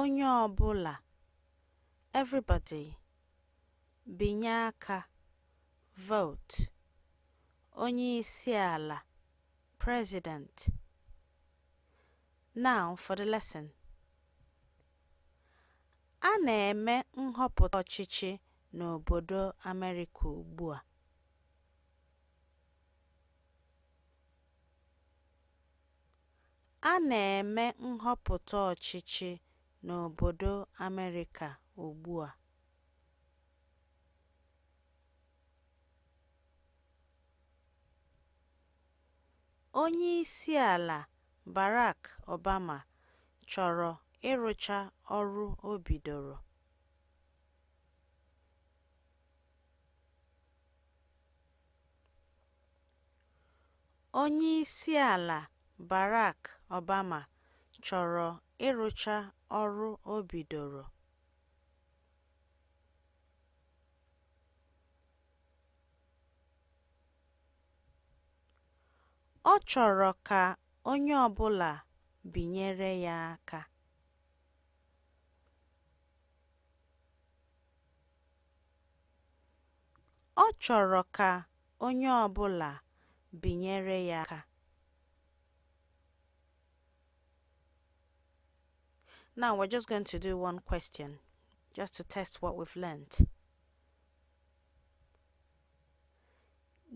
Onye ọ bụla, everybody. Binye aka, vote. Onye isi ala, president. Now for the lesson. A na-eme nhọpụta ọchịchị n'obodo Amerịka ugbu a. A na-eme nhọpụta ọchịchị n'obodo Amerịka ugbua. Onyeisiala Barack Obama chọrọ ịrụcha ọrụ o bidoro. Onyeisiala Barack Obama chọrọ ịrụcha ọrụ o bidoro. Ọ chọrọ ka onye ọbụla binyere ya aka. Ọ chọrọ ka Onye ọ bụla binyere ya aka. Now we're just going to do one question just to test what we've learned.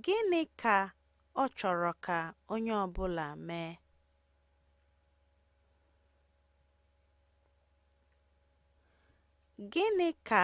Gịnị ka ọ chọrọ ka onye ọ bụla mee? Gịnị ka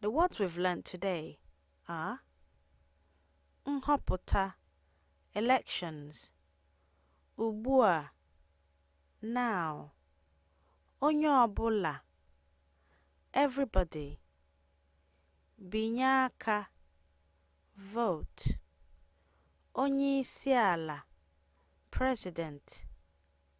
The words we've learned today are nhọpụta elections ugbua now onye ọbụla everybody binye aka vote onye isi ala president